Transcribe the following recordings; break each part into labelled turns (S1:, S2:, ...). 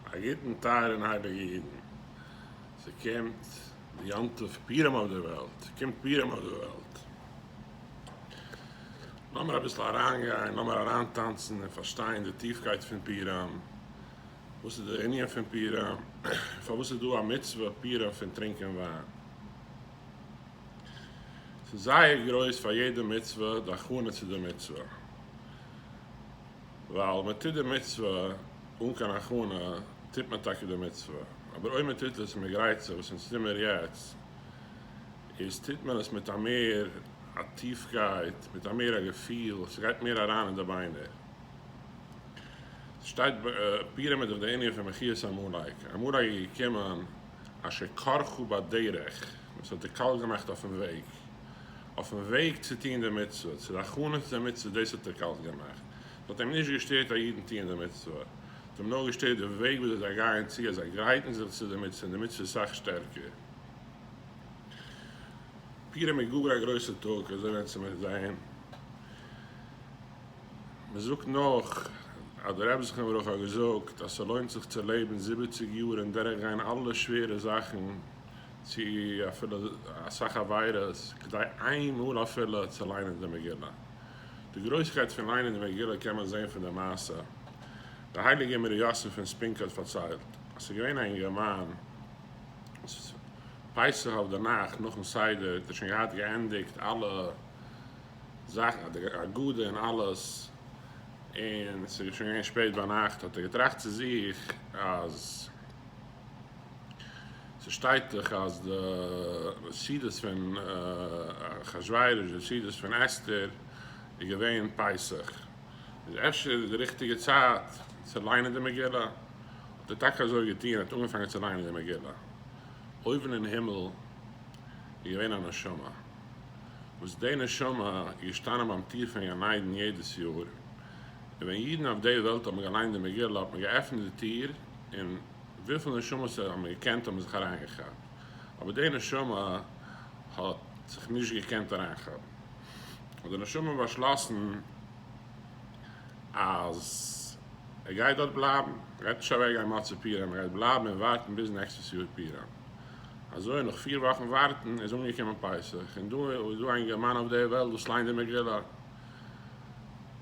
S1: א גוטן טייערע און הייליגע אידן, ס'קומט די יום טוב פורים אויף די וועלט, ס'קומט פורים אויף די וועלט, לאמיר אביסל אריינגיין, לאמיר אריינטאנצן און פארשטיין די טיפקייט פון פורים, וואס איז די ענין פון פורים, און פארוואס איז דא א מצוה פורים פון טרינקען וויין. ס'איז זייער גרויס פאר יעדע מצוה די הכנה צו די מצוה. ווייל מען טוט די מצוה אן קיין הכנה טוט מען טאקע די מצוה, אבער אויב מען טוט עס מיט גרייצער וואס אונז טוהן מיר יעצט, איז טוט מען עס מיט א מער א טיפקייט, מיט א מער א געפיל, ס'גייט מער אריין אין די ביינער. ס'שטייט פירעמער דורך די ענין פון מחיית עמלק, עמלק איז געקומען אשר כרכו בדרך, וואס האט דערקאלט געמאכט אויפן וועג, אויפן וועג צו טוהן די מצוה, צו די הכנות צו די מצוה, דאס האט ער קאלט געמאכט, עס האט אים נישט געשטערט אז אידן טוען די מצוה, עס האט אים נאר געשטערט די וועג וואס זיי גייען צו, אז זיי גרייטן זיך צו די מצוה, און די מצוה איז סאך שטערקער. פורים איז גאר א גרויסע טאג, אזוי ווען צו מיר זעהן, מען זאגט נאך אז דער רבי זכרון לברכה האט געזאגט אז ס'לוינט זיך צו לעבן זיבעציג יאר און דורך גיין אלע שווערע זאכן, צו אפילו אסאך עבירות, כדי איין מאל אפילו צו ליינען די מגילה. די גרויסקייט פון ליינען די מגילה קען מען זען פון די מעשה די הייליגער מר' יוסף פון ספינקא האט פארציילט, אז ס'איז געווען א אינגערמאן וואס פסח אויף די נאכט נאכן סדר האט ער שוין געהאט געענדיגט אלע זאכן די הגדה און אלעס, און ס'איז שוין געווען שפעט ביינאכט, האט ער געטראכט צו זיך אז. ס'שטייט דאך אז די סעודות פון אחשורוש, די סעודות פון אסתר, איז געווען פסח, איז אפשר די ריכטיגע צייט צו ליינען די מגילה? האט ער טאקע אזוי געטון, ער האט אנגעפאנגען צו ליינען די מגילה, אויבן אין הימל איז געווען א נשמה, וואס די נשמה איז געשטאנען ביים טיר פון גן עדן יעדעס יאר, און ווען אידן אויף די וועלט האבן געליינט די מגילה האט מען געעפנט די טיר, און וויפיל נשמות ער האט נאר געקענט האבן זיך אריינגעכאפט, אבער די נשמה האט זיך נישט געקענט אריינכאפן, האט די נשמה באשלאסן אז ער גייט דארט בלייבן, ער גייט נישט אוועק גיין מצה פירם, ער גייט בלייבן און ווארטן ביז נעקסטעס יאר פירם, אזוי נאך פיר וואכן ווארטן איז אנגעקומען פסח, און דא איז דא אינגערמאן אויף די וועלט וואס ליינט די מגילה.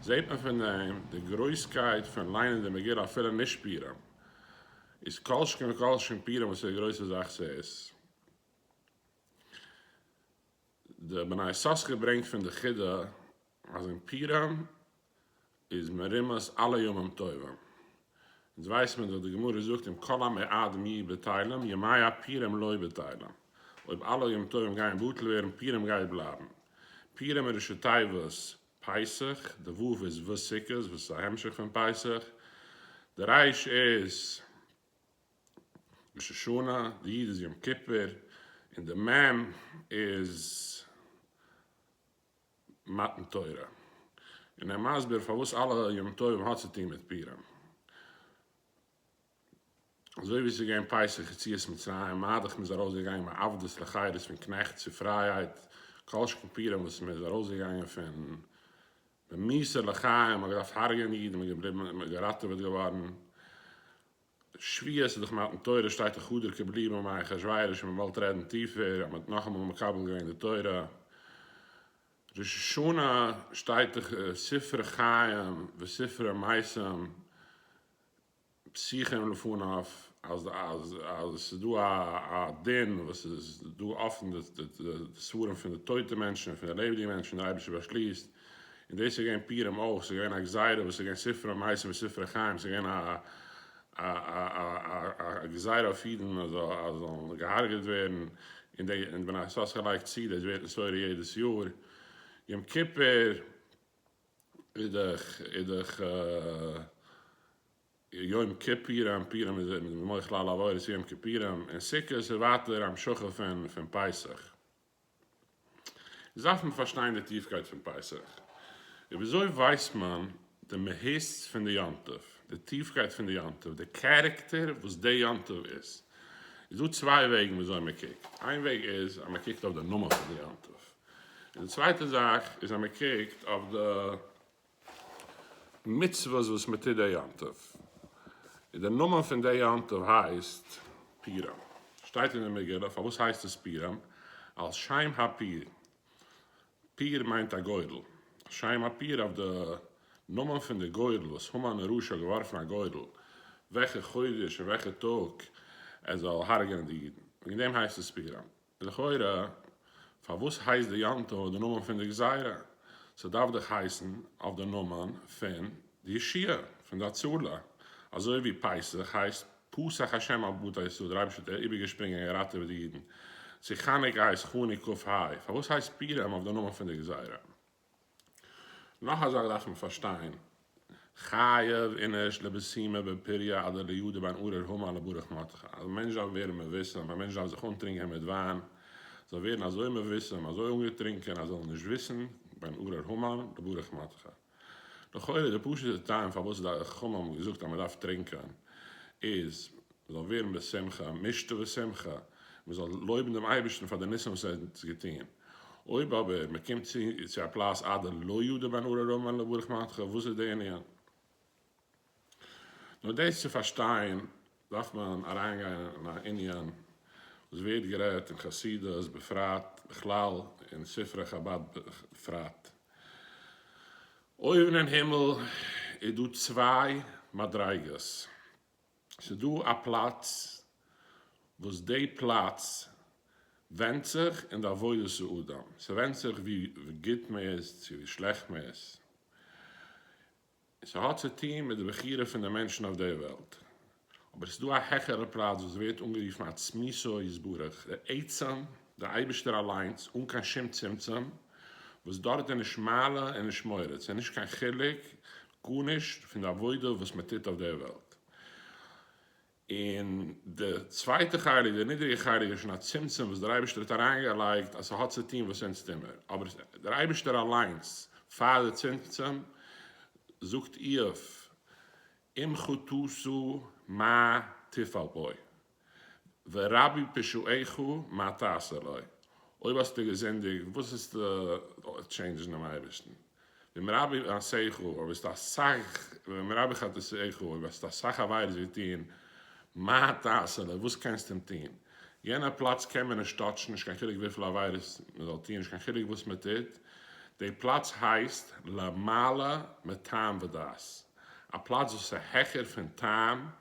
S1: זעט מען פון דעם די גרויסקייט פון ליינען די מגילה אפילו נישט פורים איז כל שכן וכל שכן פורים וואס איז א גרויסע זאך ס'איז די בני יששכר ברענגט פון די חידא אז אין פורים איז מרומז אלע ימים טובים אונז ווייס מען דאך די גמרא זאגט אם כל עמי עד מ בטלים ימי הפורים לא בטלים אויב אלע ימים טובים גייען בטל ווערן פורים גייט בלייבן פורים איז ראשי תיבות פסח, די ו' איז ו' סוכות וואס איז א המשך פון פסח, די ר' איז ראש השנה, די י' איז יום כיפור, און די מ' איז מתן תורה. און ער מסביר פארוואס אלע ימים טובים האט צו טון מיט פורים. אזוי ווי עס איז געווען פסח יציאת מצרים, מאדך מען איז ארויסגעגאנגען מעבדות לחירות פון קנעכט צו פרייהייט, כל שכן פורים וואס מען איז ארויסגעגאנגען פון במסור לחיים, מען האט געדארפט הרג'ענען אידן, מען איז געבליבן מען איז געראטעוועט געווארן, שביעית איז דאך מתן תורה שטייט איך האדער כבלי במאי אחשורוש מען וואלט רעדן טיפער אז מען האט נאכאמאל מקבל געווען די תורה, ראש השנה שטייט איך ספרי חיים וספרי מעשים, שיחה און לפניו אז אז עס איז דא א א דין וואס עס איז דא אפען די די ספרים פון די טויטע מענטשן און פון די לעבעדיגע מענטשן און דער אייבערשטער באשליסט און דאס איז געווען פורים אויך עס איז געווען א גזירה וואס עס איז געווען ספר המעשים און ספר החיים עס איז געווען א א א א א גזירה אויף אידן אז זיי זאלן געהארגעט ווערן און די און די בני ישראל האט זיך געלייגט צו דאס ווערט נשׂורה יעדעס יאר יום כיפור. אידעך אידעך יום כיפורים פורים איז ער מוחל על עבירות יום כיפורים און סוכות איז ווייטער המשכה פון פון פסח איז דארף מען פארשטיין די טיפקייט פון פסח איז וויאזוי ווייסט מען די מהות פון די יום טוב די טיפקייט פון די יום טוב די קערעקטער וואס די יום טוב איז איז דא צוויי וועגן וויאזוי מען קוקט איין וועג איז אז מען קוקט אויף די נאמען פון די יום טוב און די צווייטע זאך איז אז מען קוקט אויף די מצוות וואס מען טוט די יום טוב, און די נאמען פון די יום טוב הייסט פירם, שטייט אין די מגילה פארוואס הייסט עס פירם, על שם הפיר, פיר מיינט א גורל, על שם הפיר אויף די נאמען פון די גורל וואס המן הרשע האט געווארפן א גורל וועלכע חודש און וועלכע טאג ער זאל הרג'ענען די אידן, וועגן דעם הייסט עס פירם. לכאורה, פארוואס הייסט די יום טוב די נאמען פון די גזירה? ס'דארף דאך הייסן אויף די נאמען פון די ישועה, פון די הצלה, אזוי ווי פסח הייסט פסח השם על בתי ישראל, דער אייבערשטער האט איבערגעשפרינגען און געראטעוועט די אידן, צו חנוכה הייסט חנוה ק ה, פארוואס הייסט פורים אויף די נאמען פון די גזירה? נאך א זאך דארף מען פארשטיין, חייב איניש לבהמה בפריה אדער ליהודה בין ארור המה לברך מותך, אז א מענטש דארף ווערן מבושם, א מענטש דארף זיך אנטרינקען מיט וויין, זאל ווערן אזוי מבושם, אזוי אנגעטרינקען אז ער זאל נישט וויסן, בין ארור המה לברך מותך. לכאורה די פשוט'ע טעם פארוואס די חכמים האבן געזאגט אז מען דארף טרינקען איז, מען זאל ווערן בשמחה משתה ושמחה, מען זאל לויבן דעם אייבערשטן פאר די ניסים וואס ער האט אונז געטון, אויב אבער מען קומט צו צו א פלאץ עד לא ידע בן ארור רמא אלא ברך מנחה, וואס איז די ענין? נאר דאס צו פארשטיין דארף מען אריינגיין אין א ענין וואס ווערט גערעדט אין חסידות בפרט בכלל און ספרי חבד בפרט, אויבן אין הימל איז דא צוויי מדריגות. ס'איז דא א פלאץ וואס די פלאץ ווענדט זיך אין די עבודת האדם, ס'ווענדט זיך ווי גוט מען איז צו ווי שלעכט מען איז, ס'האט צו טון מיט די בחירה פון די מענטשן אויף די וועלט, אבער ס'איז דא א העכערע פלאץ וואס ווערט אנגערופן עצמיתו יתברך, די עצם, די אייבערשטער אליינס אן קיין שום צמצום, וואס דארט איז נישט מעלה און נישט מוריד, ס'איז נישט קיין חילוק גארנישט פון די עבודה וואס מען טוט אויף דער וועלט. און די צווייטע חלק, די נידריגע חלק, איז שוין א צמצום וואס דער אייבערשטער האט אריינגעלייגט אז ס'האט צו טון וואס אונז טו מיר. אבער דער אייבערשטער אליינס פאר די צמצום זאגט איוב, אם חטאתו מה תפל בו. ורבי פשעיך מה תעשה לו, אויב האסטו געזינדיגט וואס וועסטו טשעינדזשן דעם אייבערשטן? ומרבי מעשיך, אויב האסטו אסאך, ומרבי חטאיך, אויב האסטו אסאך עבירות געטון, מה תעשה לו, וואס קענסטו אים טון? יענער פלאץ קען מען נישט טאטשן, נישט קיין חילוק וויפיל עבירות מען זאל טון, נישט קיין חילוק וואס מען טוט, די פלאץ הייסט למעלה מטעם ודעת, א פלאץ וואס איז העכער פון טעם,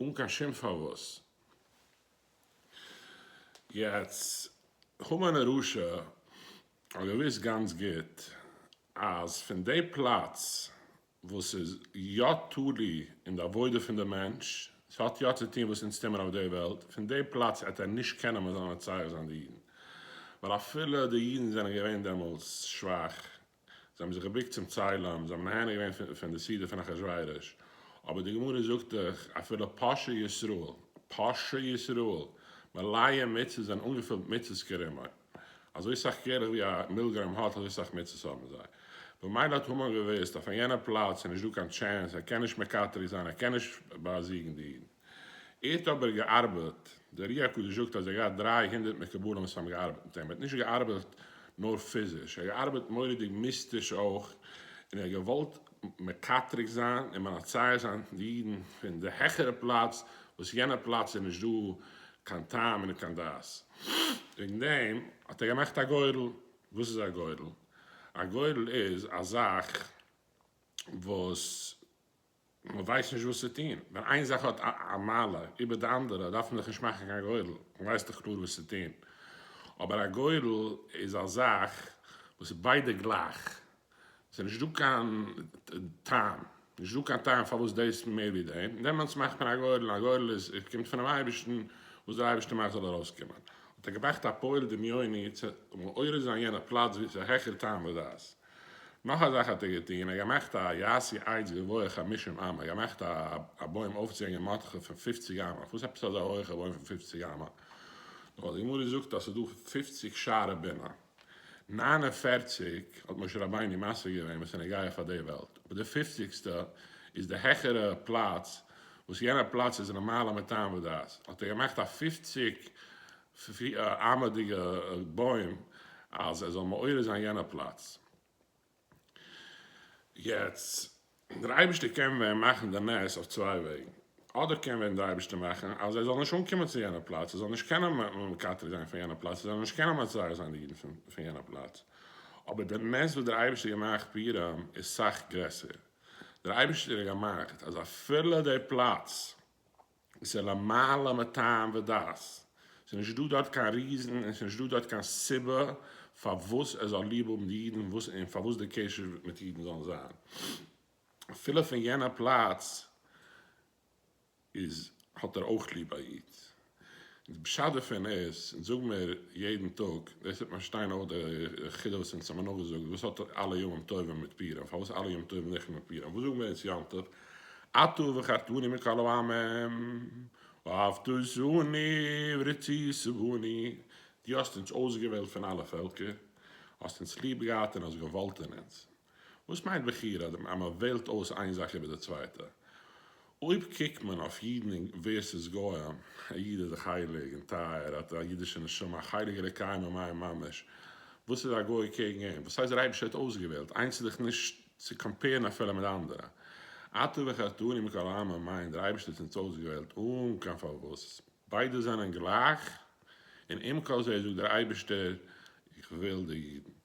S1: אן קיין שום פארוואס. יעצט, המן הרשע האט געוואוסט גאנץ גוט אז פון די פלאץ וואס איז יא תלוי אין די עבודה פון די מענטש, עס האט יא צו טון וואס אונז טוען מיר אויף די וועלט, פון די פלאץ העט ער נישט קענען מען זאל מצער זיין די אידן, ווייל אפילו די אידן זענען געווען דעמאלס שוואך זיי האבן זיך געבוקט צום צלם, זיי האבן נהנה געווען פון די סעודה פון אחשורוש, אבער די גמרא זאגט דאך, אפילו פושעי ישראל, פושעי ישראל, מלאי מצות זענען אנגעפילט מצות כרימון, אזוי סאך קרח ווי א מילגרוים האט, אזוי סאך מצות האבן זיי. במילא האט המן געוואוסט, אויף יענע פלאץ איז נישט דא קיין טשענס, ער קען נישט מקטרג זיין, ער קען נישט באזיגן די אידן. ער האט אבער געארבעט, דער רוח הקדוש זאגט אז ער האט געהאט דרײַ הונדערט מקובלים וואס האבן געארבעט מיט אים, ער האט נישט געארבעט נאר פיזיש, ער האט געארבעט מורא'דיג מיסטיש אויך, און ער האט געוואלט מקטרג זיין און מנצח זיין די אידן פון די העכערע פלאץ, וואס יענע פלאץ איז נישט דא קיין טעם און קיין דעת. וועגן דעם האט ער געמאכט א גורל, וואס איז א גורל? א גורל איז א זאך וואס. מען ווייסט נישט וואס צו טון, ווען איין זאך האט א מעלה איבער די אנדערע דארף מען דאך נישט מאכן קיין גורל, מען ווייסט דאך קלאר וואס צו טון, אבער א גורל איז א זאך וואס איז ביידע גלייך, עס איז נישט דא קיין טעם, נישט דא קיין טעם פארוואס דאס מער ווי דעם, דעמאלטס מאכט מען א גורל, א גורל איז קומט פונעם אייבערשטן, וואס דער אייבערשטער מאכט זאל ארויסקומען, האט ער געבראכט א פועל דמיוני צו מעורר זיין יענע פלאץ וואו עס איז העכער טעם ודעת. נאך א זאך האט ער געטון, ער האט געמאכט א יעשי עץ גבוה חמישים אמה, ער האט געמאכט א בוים אויפצוהענגען מאטכע פון פופציג אמה, אויף וואס עפעס אזא הויכע בוים פון פופציג אמה? נאר די גמרא זאגט אז ס'איז דא פופציג שערי בינה, נײַן און פֿערציק האט משה רבינו משיג געווען וואס איז נוגע פאר די וועלט, אבער די פופציגסטע איז די העכערע פלאץ, וואס יענע פלאץ איז למעלה מטעם ודעת, האט ער געמאכט א פופציג פֿי אַ אַרמדיגע בוים, אַז ער זאָל מעורר זיין יענע פּלאַץ. יעצט, דער אייבערשטער קען ווען מאַכן די נס אויף צוויי וועגן. אָדער קען ווען דער אייבערשטער מאַכן, אַז ער זאָל נישט אָנקומען צו יענע פּלאַץ, ער זאָל נישט קענען מקטרג זיין פֿון יענע פּלאַץ, ער זאָל נישט קענען מצער זיין די יידן פֿון יענע פּלאַץ. אָבער דער נס וואָס דער אייבערשטער האָט געמאַכט פֿי אַרם איז סך גרעסער. דער אייבערשטער האָט געמאַכט, אַז אַפֿילו די פּלאַץ, ס'איז למעלה מטעם ודעת, ס'איז נישט דא דארט קיין ריזן און ס'איז נישט דא דארט קיין סיבה פארוואס ער זאל ליב האבן די אידן וואס און פארוואס די קשר מיט אידן זאלן זיין אפילו פון יענע פלאץ איז האט ער אויך ליב א איד. די פשט דערפון איז, און זאג מיר יעדן טאג, דאס טוט מיר שטיין אויף די חידה וואס אונז האמיר נאכגעזאגט, וואס האט אלע ימים טובים מיט פורים? פארוואס אלע ימים טובים זיכער מיט פורים? וואס זאגן מיר אונז יום טוב? אתה וחרתני מכל העמים, ואהבת זרעני ורצית סבני, דו האסט אונז אויסגעוועלט פון אלע פעלקער, האסט אונז ליב געהאט און האסט געוואלט אין אונז. וואס מיינט בחירה? אז מען וועלט אויס איין זאך איבער די צווייטע. אויב קוקט מען אויף אידן ווערסעס גוים, א איד איז דאך הייליג און טייער, ער האט א אידישע נשמה, א חלק אלוקי ממעל ממש, וואס איז א גוי קעגן אים? וואס הייסט דער אייבערשטער האט אויסגעוועלט? איינס איז דאך נישט צו קאמפערן אפילו מיט אנדערע. אתה וחטאני מכל העמים מיינט דער אייבערשטער האט אונז אויסגעוועלט אן קיין פארוואס. ביידע זענען גלייך, און עם כל זה זאגט דער אייבערשטער איך וועל די אידן.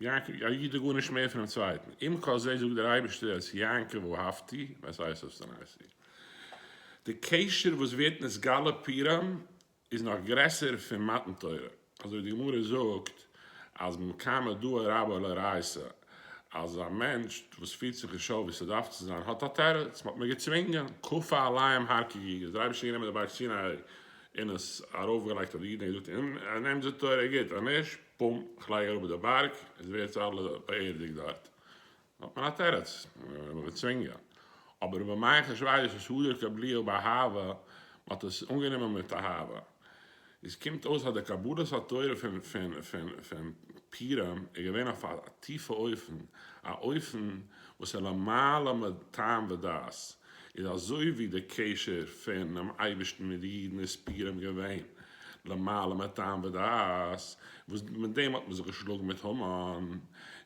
S1: יעקב, א איד איז גארנישט מער פונעם צווייטן, עם כל זה זאגט דער אייבערשטער את יעקב אהבתי ואת עשיו שנאתי. די קשר וואס ווערט נתגלה פירם איז נאך גרעסער פון מתן תורה, אזוי ווי די גמרא זאגט אז במקמא דאא רבא לא ראיסא, אז א מענטש וואס פירט זיך נישט אויף ווי ס'דארף צו זיין האט א תירוץ, מ'האט מיר געצווינגען, כפה עליהם הר כגיגית, דער אייבערשטער האט גענומען די בארג סיני און עס ארויפגעלייגט אויף די אידן, ער האט געזאגט, אנעמט די תורה, גוט, אנישט, קום, כ'לייג אראפ די בארג, עס ווערט צו אלע באערדיגט דארט, האט מען א תירוץ, מ'וועט מיר צווינגען. אבער רבי מיכל שרייבט עס הדר קבליו באהבה, מ'האט עס אנגענומען מיט אהבה. עס קומט אויס אז די קבלת התורה פון פורים איז געווען אויף א טיפע אופן, א אופן וואס איז למעלה מטעם ודעת, איז אזוי ווי די קשר פונעם אייבערשטן מיט די אידן איז פורים געווען, למעלה מטעם ודעת, וואס מיט דעם האט מען זיך געשלאגן מיט המן,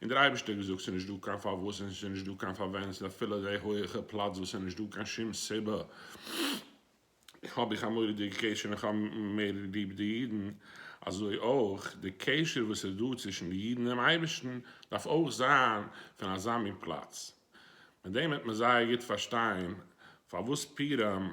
S1: און דער אייבערשטער האט געזאגט, ס'איז נישט דא קיין פארוואס און ס'איז נישט דא קיין פארווען, ס'איז אפילו די הויעכע פלאץ וואס ס'איז נישט דא קיין שום סיבה, האב איך א מורא'דיגע קשר און כ'האב מער ליב די אידן, אזוי אויך די קשר וואס איז דא צווישן די אידן און אייבערשטן דארף אויך זיין פון אזא מין פלאץ, מיט דעם וועט מען זייער גוט פארשטיין פארוואס פורים.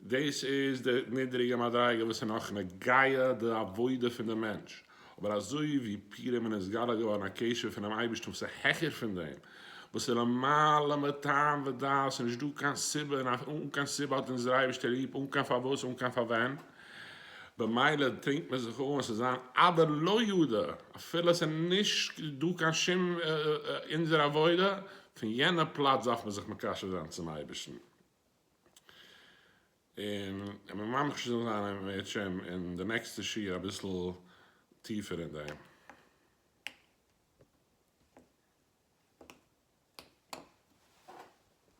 S1: דאס איז די נידריגע מדריגה וואס איז נאך נוגע די עבודה פון די מענטש, אבער אזוי ווי פורים איז נתגלה געווארן א קשר פונעם אייבערשטן וואס איז העכער פון דעם, וואס איז למעלה מטעם ודעת און נישט דא קיין סיבה און אן קיין סיבה האט אונז דער אייבערשטער ליב אן קיין פארוואס אן קיין פארווען, במילא טרינקט מען זיך אן עס איז זיין אדער לא ידע אפילו עס איז נישט דא קיין שום אונזער עבודה, פון יענע פלאץ דארף מען זיך מקשר זיין צום אייבערשטן. און כ'בין ממש זאל זיין א מאת שם אין די נעקסטע שיעור אביסל טיפער אין דעם.